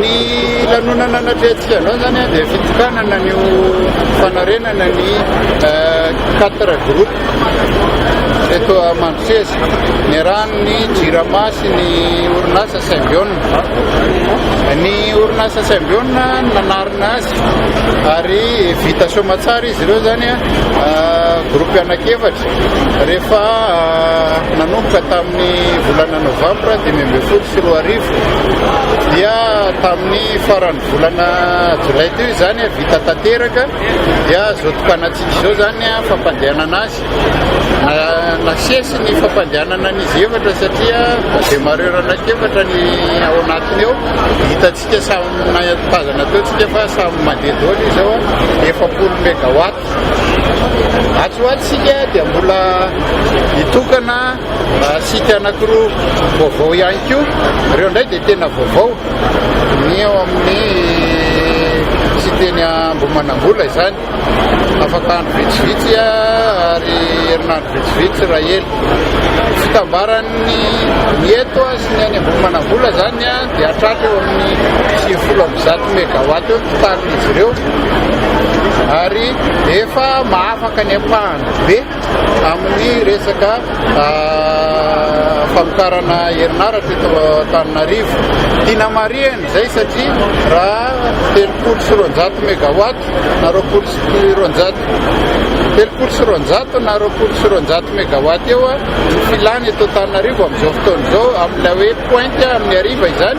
Ny lanonana natrehantsika androany zany a dia fitokanana ny ho fanarenana ny quatre groupes eto Mandroseza niarahan'ny Jirama sy ny orinasa Symbion. Ny orinasa Symbion nanarina azy ary vita soamantsara izy ireo zany a groupe anankiefatra Rehefa nanomboka tamin'ny volana novambra dimy ambin'ny folo sy roa arivo dia tamin'ny faran'ny volana jolay teo izany vita tanteraka dia izao tokanatsika izao izany fampandehanana azy. Nasesy ny fampandehanana an'izy efatra satria demarreur anankiefatra ny ao anatiny ao. Hitantsika samy nahazana teo tsika fa samy mandeha daholo izao efapolo megawatt. Atsy ho atsy isika dia mbola hitokana sites anankiroa vaovao ihany koa. Ireo indray dia tena vaovao. Ny ao amin'ny site eny Ambohimanambola izany. Afaka andro vitsivitsy ary herinandro vitsivitsy raha ela. Fitambaran'ny ny eto sy ny any Ambohimanambola izany. dia hatrany eo amin'ny sivifolo amby zato megawatt eo ny totalin'izy ireo ary efa mahafaka ny ampahany be amin'ny resaka ah, famokarana herinaratra eto Antananarivo. Tiana marihana izay satria raha telopolo sy roanjato megawatt na roapolo sy roanjato telopolo sy roanjato na roapolo sy roanjato megawatt eo ah, Ny filàna eto Antananarivo amin'izao fotoana izao amin'ilay hoe pointe amin'ny hariva izany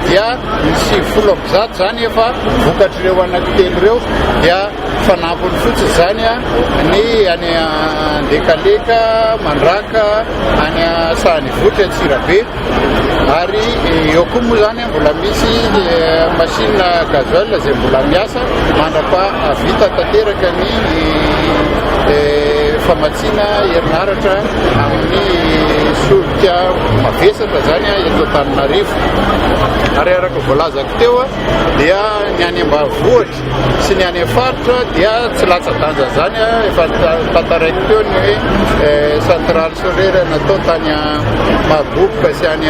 dia ny sivifolo amby zato izany efa vokatr'ireo anankitelo ireo dia fanampiny fotsiny izany ny any Andekaleka, Mandraka, any Sahanivohitra, Antsirabe. Ary eo koa moa izany mbola misy machine gasoil izay mbola miasa mandrapahavita tanteraka ny famatsiana herinaratra amin'ny solika mavesatra izany eto Antananarivo. Ary araka voalazako teo dia ny any ambanivohitra sy ny any faritra dia tsy latsa-danja izany efa tantaraiko teo ny hoe centrale solaire natao tany Mahaboboka sy any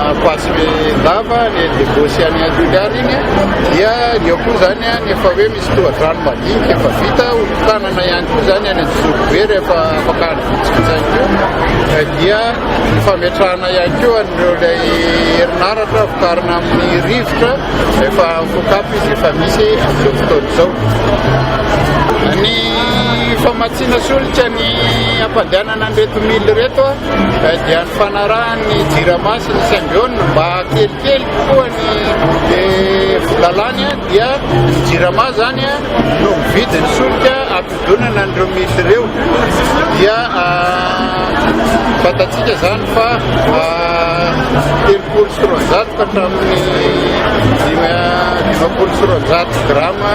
Ampasindava ny Debo sy any Toliary iny dia ny ao koa izany ny efa hoe misy tohadrano madinika efa vita hotanana ihany koa izany any Anjozoro be rehefa afaka andro vitsivitsy ihany koa dia ny fametrahana ihany koa an'ireo ilay herinaratra vokarina amin'ny rivotra Efa voakapy izy efa misy amin'izao fotoana izao. Ny famatsiana solika ny hampandehanana an'ireto mily ireto eh, dia ny fanarahan'ny jirama sy ny symbione mba kelikely kokoa ny eh, volalany eh, dia ny jirama zany no mividy ny solika Fifidianana an'ireo minisitra ireo dia fantatsika izany fa telopolo sy roanjato ka hatramin'ny dimampolo sy roanjato grama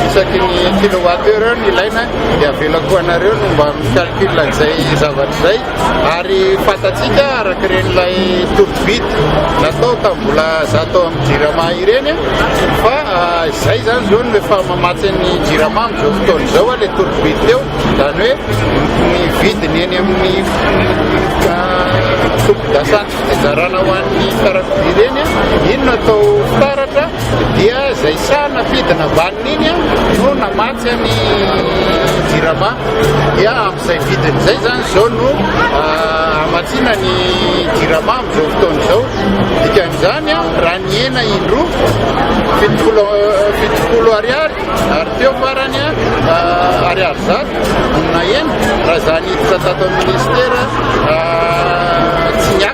isaky ny kilowattheure ny ilaina dia avelako anareo no mba mi-calcul an'izay zavatra izay Ary fantatsika araka ireny ilay tourvide natao tamin'ny mbola za tao amin'ny jirama ireny fa izay zany zao no efa mamatsy ny jirama amin'izao fotoana izao a le tourvide teo zany hoe ny vidiny eny amin'ny sompidasany fizarana ho an'ny fiarakodia ireny iny no atao fitaratra dia izay saha nafidina ambanin'iny no namatsy ny jirama dia Izay vidin'izay izany izao no hamatsiana ny jirama amin'izao fotoana izao. Dikan'izany, raha ny hena indroa, fitopolo fitopolo ariary, ary teo farany ariary zato na hena, raha izany hiditra tato amin'ny ministera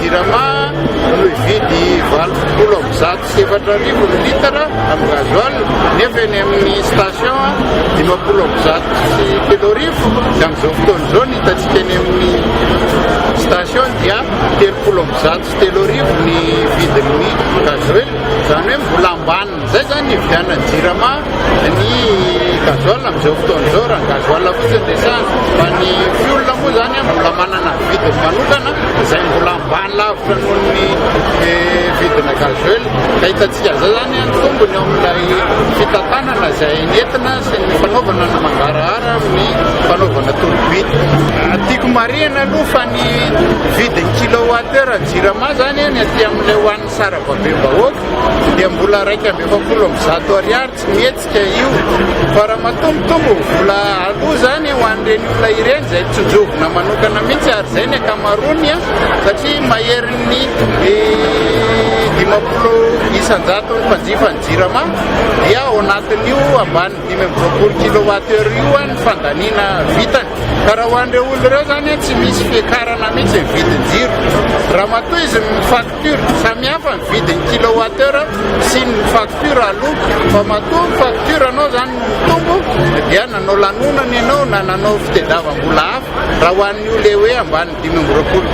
Jirama no hividy valo sy folo amby zato sy efatra arivo ny litatra amin'ny gasoil nefa eny amin'ny station dimampolo amby zato sy telo arivo dia amin'izao fotoana izao ny hitantsika eny amin'ny station dia telopolo amby zato sy telo arivo ny vidin'ny gasoil izany hoe mbola ambany Izay zany nividianan'ny jirama ny gasoil amin'izao fotoana izao raha ny gasoil fotsiny no resahana fa ny fioul moa izany mbola manana vidiny manokana izay mbola ambany lavitra noho ny eh, vidina gasoil ka hitantsika izay zany ny tombony ao amin'ilay fitantanana izay nentina sy ny fanaovana ny mangarahara amin'ny fanaovana tolobita tiako marihana aloha fa ny vidin'ny kilowattheure jirama zany ny aty amin'ilay hoan'ny Sarababem-bahoaka dia mbola iraika amby efapolo amby zato ariary tsy mihetsika io fa raha matombotombo vola aloa izany ho an'ireny olona ireny izay tsinjovina manokana mihitsy ary izay ny ankamaroany satria maherin'ny dimampolo isan-jaton'ny mpanjifa ny jirama dia ao anatin'io ambany dimy amby roapolo kilowatt heure io ny fandaniana vitany ka raha ho an'ireo olona ireo izany tsy misy fiakarana mihitsy ny vidin-jiro raha matoa izy mifaty Facture, samihafa ny vidin'ny kilowateur sy ny facture aloa, fa matoa ny facture anao zany no mitombo dia nanao lanonana ianao na nanao fitedavambola hafa, raha ho an'io le hoe ambany dimy amby roapolo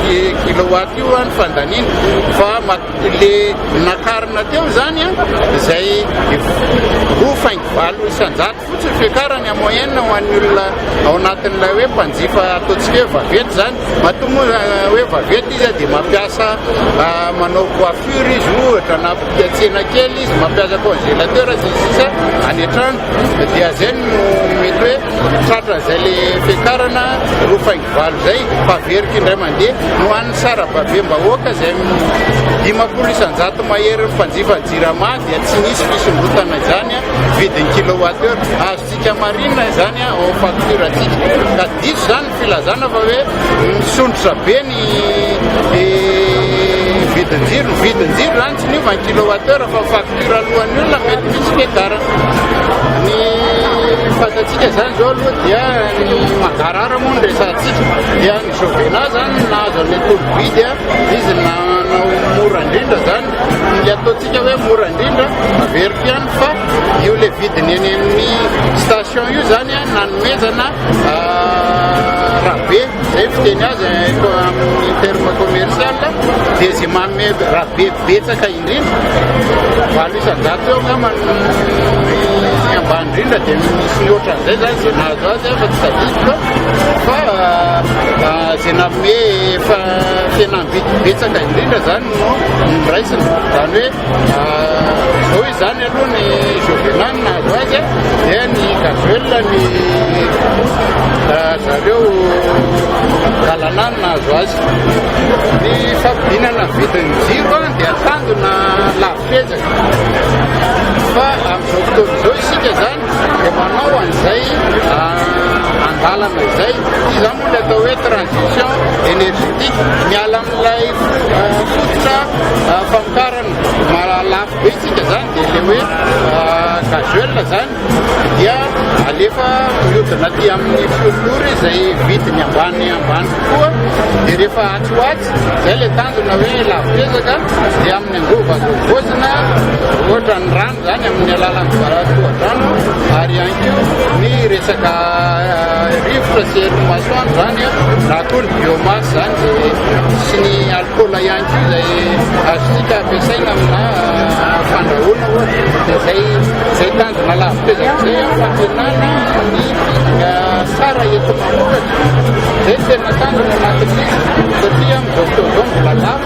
kilowatt io an ny fandaniana, fa le nakarina teo zany an izay roa faingo valo isan-jato. Fotsiny ny fiakarany en moyenne ho an'ny olona ao anatin'ilay hoe mpanjifa ataontsika hoe vaventy izany, matoa moa hoe vaventy izy dia mampiasa manao coiffure izy ohatra na mpividy tsena kely izy, mampiasa congélateur sy ny sisa any an-trano dia izay no mety hoe tratra an'izay le fiakarana roa faingo valo izay fa averiko indray mandeha no an'ny sarababem-bahoaka izay dimampolo isan-jato mahery ny mpanjifa jirama. dia tsy misy fisondrotana izany vidiny kilowatt heure azontsika marina izany ao am facture atsika ka diso izany ny filazana fa hoe misondrotra be ny vidinjiro ny vidinjiro izany tsy niova ny kilowatt heure fa facture alohan'ny olona mety misy fiadarana ny fatantsika izany zao aloha dia ny magarara moa ny resantsika dia ny jovena zany nahazo an'le tolobidy izy nanao mora indrindra zany Dia ataontsika hoe mora indrindra, averiko ihany fa io le vidiny eny amin'ny station io zany a, nanomezana ah, rabe, zay fiteny azy eh, ko- amin'ny terme commercial, dia zay manome rabe betsaka indrindra, valo isan-jato eo angamba no ny ambany indrindra dia misy ny ohatran'izay zany zay nahazo azy afa tsy tadidiko fa ah, ah, zay nanome fa tena Vide betsaka indrindra izany no noraisina. Izany hoe izao izany aloha ny Jovenal nahazo azy dia ny Gazuela ny zareo Galana nahazo azy. Ny fampidinana vidin'ny jiro dia tandona lafo ezaka. Fa amin'izao fotoana izao isika izany Dia manao an'izay andalana izay. Izany moa ilay atao hoe transition energetique. Miala amin'ilay fototra famokarana mahalafo be isika izany, dia ilay hoe gasoil izany dia alefa mihodina aty amin'ny fiompora izay vidiny ambany ambany kokoa, dia rehefa atsy ho atsy, izay ilay tanjona hoe lafo ezaka, dia amin'ny angovo azo havaozina, ohatra ny rano. izany amin'ny alalan'ny varahatoha-drano ary ihany koa ny resaka rivotra sy herin'ny masoandro izany na koa ny biomasse izany izay sy ny alcool ihany koa izay azontsika ampiasaina amina fandrahoana ohatra dia izay izay tanjona lavitra izay izay fampianana ny tsara eto manoratra izay tena tanjona anatin'izy satria amin'izao fotoana izao mbola lafo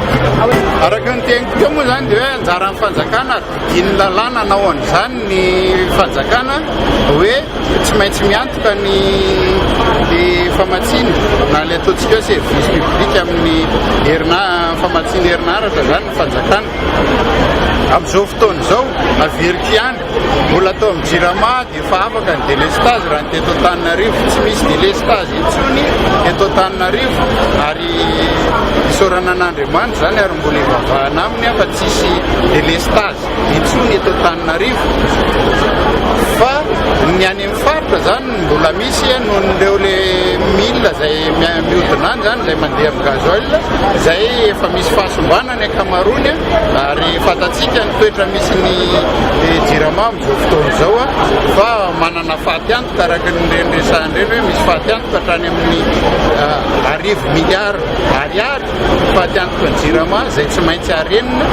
Araka ny teniko teo moa izany dia hoe anjaran'ny fanjakana adidin'ny lalàna hanao an'izany ny fanjakana hoe tsy maintsy miantoka ny famatsiana na ilay ataontsika hoe service public amin'ny herina famatsiana herinaratra izany ny fanjakana. Amin'izao fotoana izao averiko ihany Mbola atao amin'ny jirama dia efa afaka ny délestage raha ny teto Antananarivo. Tsy misy délestage intsony eto Antananarivo ary isaorana an'Andriamanitra izany ary mbola hivavahana aminy aho fa tsy hisy délestage intsony eto Antananarivo fa ny any amin'ny faritra izany mbola misy noho ireo le mila izay mihodina any izany izay mandeha amin'ny gasoil izay efa misy fahasombanana. ny ankamaroany ary fantatsika ny toetra misy ny jirama amin'izao fotoana izao fa manana fatiantoka araka ny ireny resahana ireny hoe misy fatiantoka hatrany amin'ny ah, arivo miliara ariary fatiantoka ny jirama izay tsy maintsy arenina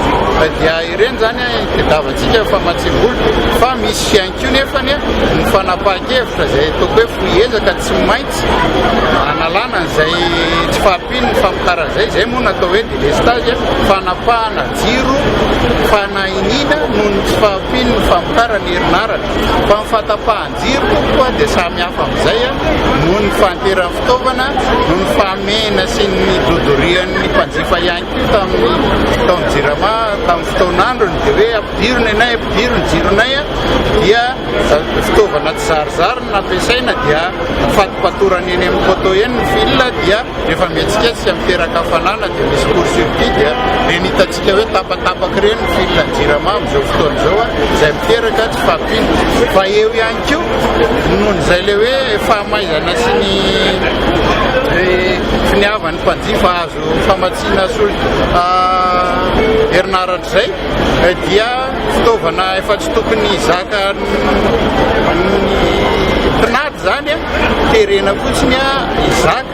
dia ireny izany tadavantsika fa matsimbolo fa misy fiain ko nefany ny fanapahan-kevitra izay toko hoe foy ezaka tsy maintsy analana izay tsy fahampian'ny famokarana izay izay moa natao hoe Delestage, fanapahana jiro, fanahiniana noho ny tsy fahampian'ny famokarana herinaratra. Fa ny fatapahan-jiro tompoko dia samy hafa amin'izay noho ny fahanteran'ny fitaovana, noho ny fahamehana sy ny dodorian'ny mpanjifa ihany koa tamin'ny taon'ny Jirama tamin'ny fotoan'androny dia hoe ampidiro ny anay, ampidiro ny jironay dia fitaovana tsy zarizary no nampiasaina dia fato-patorana eny amin'ny poteau eny ny fil dia Rehefa mihetsiketsika miteraka hafanana dia misy court circuit dia ireny hitantsika hoe tapatapaka ireny ny fil ny jirama amin'izao fotoana izao a, izay miteraka tsy fahampiana. Fa eo ihany koa noho izay ilay hoe fahamaizana sy ny finiavan'ny mpanjifa hahazo famatsiana solika herinaratra izay dia fitaovana efa tsy tokony hizaka ny mpinatry. Izany a, terena fotsiny a, Isaac,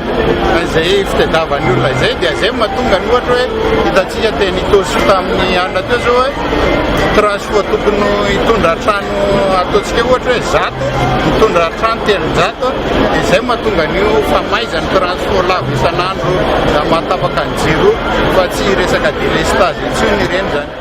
izay fitadiavan'ny olona izay, dia izay no mahatonga ny ohatra hoe hitantsika teny Itaosy tamin'ny alina teo izao hoe Transoa tokony hitondra trano ataontsika hoe ohatra hoe zato, mitondra trano telonjato, dia izay no mahatonga an'io famaizan'ny Transoa lavo isan'andro na mahatapaka ny jiro fa tsy resaka délestage intsony ireny izany.